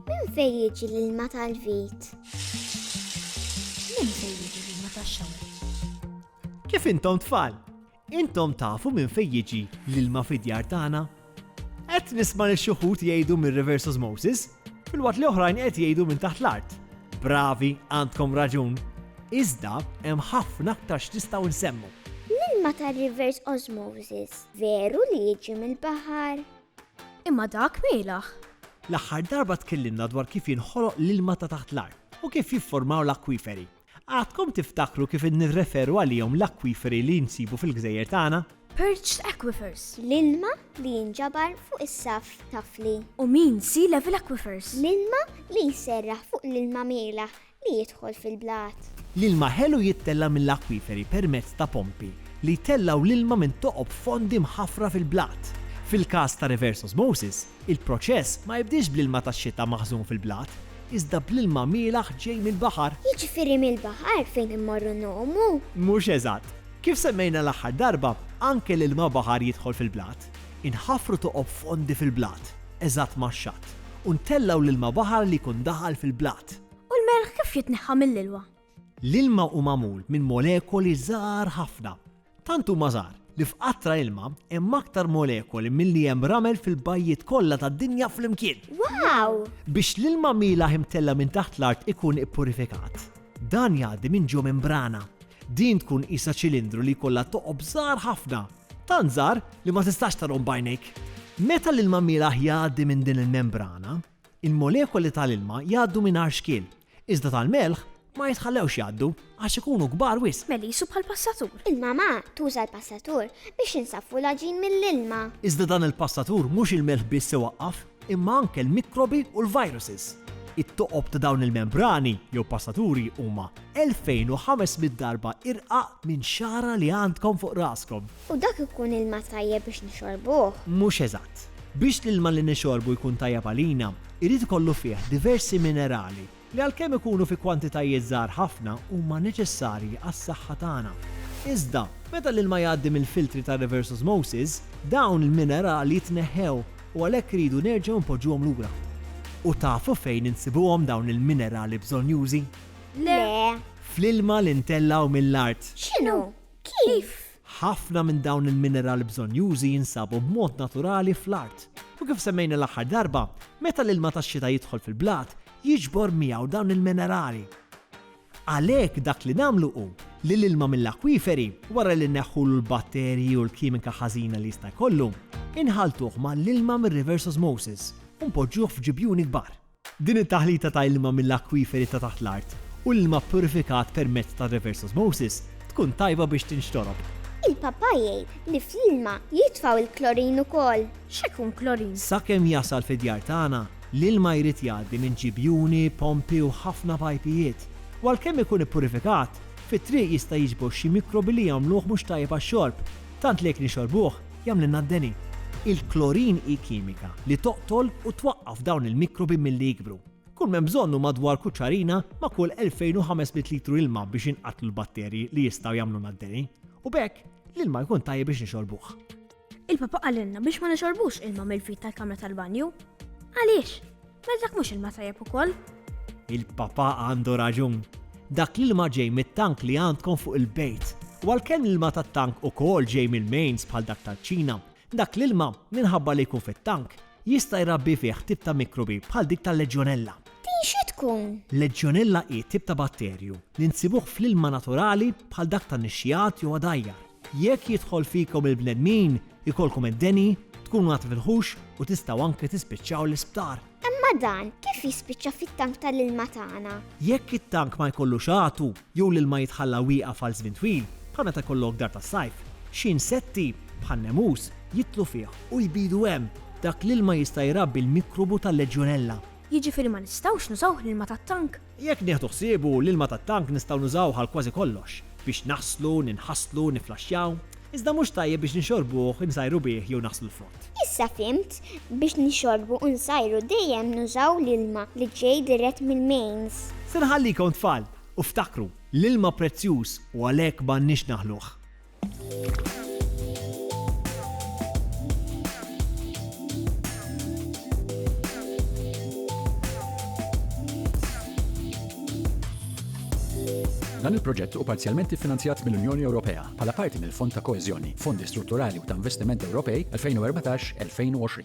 Minn fejn jiġi l-ilma tal-vit? Minn fejn jiġi l-ilma tax-xawer? Kif intom tfal? Intom tafu minn fejn jiġi l-ilma fid-djar tagħna? Qed nisma' lil xi wħud jgħidu minn reverse osmosis, filwaqt li oħrajn qed jgħidu minn taħt l-art. Bravi, għandkom raġun. Iżda hemm ħafna aktar x'nistgħu nsemmu. L-ilma tar-reverse osmosis veru li jiġi mill-baħar? Imma dak mielaħ. L-aħħar darba tkellimna dwar kif jinħoloq l-ilma ta' taħt l-art u kif jifformaw l-akwiferi. Għadkom tiftakru kif innirreferu għalihom l-akwiferi li nsibu fil-gżejjer tagħna? Perched aquifers. L-ilma li jinġabar fuq is-saff tafli. U mean sea level aquifers. L-ilma li jserraħ fuq l-ilma mielaħ li jidħol fil-blat. L-ilma ħelu jittella' mill-akwiferi permezz ta' pompi li jtellgħu l-ilma minn toqob fondi mħaffra fil-blat. Fil-każ ta' reverse osmosis, Il-proċess ma jibdiex bl-ilma tax-xita maħżun fil-blat, iżda bl-ilma mielaħ ġej mill-baħar. Jiġifieri mill-baħar fejn immorru ngħumu? Mhux eżatt. Kif semmejna l-aħħar darba, anke l-ilma baħar jidħol fil-blat. Inħaffru toqob fondi fil-blat, eżatt max-xatt, u ntellgħu l-ilma baħar li jkun daħal fil-blat. U l-melħ kif jitneħħa mill-ilwa? L-ilma hu magħmul minn molekoli żgħar ħafna, Tant huma żgħar li f'qatra ilma hemm aktar molekoli milli hemm ramel fil-bajjiet kollha tad-dinja flimkien! Wow! Biex l-ilma mielaħ imtella' minn taħt l-art ikun ippurifikat, dan jgħaddi minn ġo membrana. Din tkun qisha ċilindru li jkollha toqob żgħar ħafna, tant żgħar li ma tistax tarahom b'għajnejk. Meta l-ilma mielaħ jgħaddi minn din il-membrana, il-molekoli tal-ilma jgħaddu mingħajr xkiel Iżda tal-melħ ma jitħallewx jgħaddu għax ikunu kbar wisq. Melissu bħall-passatur. Il-mamà tuża l-passatur biex insaffu l-għaġin mill-ilma. Iżda dan il-passatur mhux il-melħ biss iwaqqaf imma anke l-mikrobi u l-viruses. It-toqob ta' dawn il-membrani jew passaturi huma 2,500 darba irqaq minn xagħra li għandkom fuq raskom. U dak ikun ilma tajjeb biex nixorbuh. Mhux eżatt. Biex l-ilma li nixorbu jkun tajjeb għalina, irid ikollu fih diversi minerali li għalkemm ikunu fi kwantitajiet żgħar ħafna huma neċessarji għas-saħħa tagħna. Iżda, meta l-ilma jgħaddi mill-filtri ta' reverse osmosis, dawn il-minerali jitneħħew u għalhekk iridu nerġgħu npoġġuhom lura. U tafu fejn insibuhom dawn il-minerali bżonnjużi? Le. Fl-ilma li ntellgħu mill-art. X'inhu? Kif? Ħafna minn dawn il-minerali bżonnjużi jinsabu b'mod naturali fl-art, u kif semmejna l-aħħar darba, meta l-ilma tax-xita jidħol fil-blat, jiġbor miegħu dawn il-minerali. Għalhekk dak li nagħmlu hu li l-ilma mill-akwiferi, wara li nneħħulu l-batterji u l-kimika ħażina li jista' jkollu, inħalltuh mal-ilma mir-reverse osmosis u npoġġuh f'ġibjuni kbar. Din it-taħlita ta' ilma mill-akwiferi ta' taħt l-art u l-ilma ppurifikat permezz ta' reverse osmosis tkun tajba biex tinxtorob. Il-Papa jgħid li fl-ilma jitfgħu l-klorin ukoll. X'ikun klorin? Sakemm jasal fid-djar tagħna, l-ilma jrid jgħaddi minn ġibjuni, pompi u ħafna pajpijiet. U għalkemm ikun ippurifikat, fit-triq jista' jiġbor xi mikrobi li jagħmluh mhux tajjeb għax-xorb, tant li jekk nixorbuh, jagħmlilna d-deni. Il-klorin hi kimika li toqtol u twaqqaf dawn il-mikrobi milli jikbru. Kull m'hemm bżonn hu madwar kuċċarina ma' kull 2,500 litru ilma biex jinqatlu l-batterji li jistgħu jagħmlulna d-deni, u b'hekk l-ilma jkun tajjeb biex nixorbuh. Il-Papa qalilna biex ma nixorbux ilma mill-fid tal-kamra tal-banju. Għaliex? Mela dak mhux ilma tajjeb ukoll? Il-Papa għandu raġun. Dak l-ilma ġej mit-tank li għandkom fuq il-bejt. U għalkemm l-ilma tat-tank ukoll ġej mill-mains bħal dak taċ-Ċina, dak l-ilma, minħabba li jkun fit-tank, jista' jrabbi fih tip ta' mikrobi bħal dik tal-Legionella. Din xi tkun? Legionella hi tip ta' batterju li nsibuh fl-ilma naturali bħal dak tan-nixxiegħat jew għadajjar. Jekk jidħol fikom il-bnedmin, ikollkom id-deni, tkunu għad fil-ħux u tistgħu anke tispiċċaw l-isptar. Imma dan kif jispiċċa fit-tank tal-ilma tagħna? Jekk it-tank ma jkollux għatu jew l-ilma jitħalla wieqaf għal żmien twil, bħal meta jkollok dar tas-sajf, xi insetti, bħan-nemus, jidħlu fih u jbidu hemm. Dak l-ilma jista' jrabbi l-mikrobu tal-Legionella. Jiġifieri ma nistgħux nużawh l-ilma tat-tank? Jekk nieħdu ħsiebu, l-ilma tat-tank nistgħu nużawh għal kważi kollox, biex naħslu, ninħaslu, nifflaxxjaw, iżda mhux tajjeb biex nixorbuh, insajru bih jew naħslu l-frott. Issa fhimt, biex nixorbu u nsajru dejjem nużaw l-ilma li ġej dirett mill-mains. Se nħallikom tfal, u ftakru, l-ilma prezzjuż u għalhekk m'għandniex naħluh. Dan il-proġett u parzjalment iffinanzjat mill-Unjoni Ewropea bħala parti mill-Fond ta' Koeżjoni, Fondi Strutturali u ta' Investiment Ewropej 2014-2020.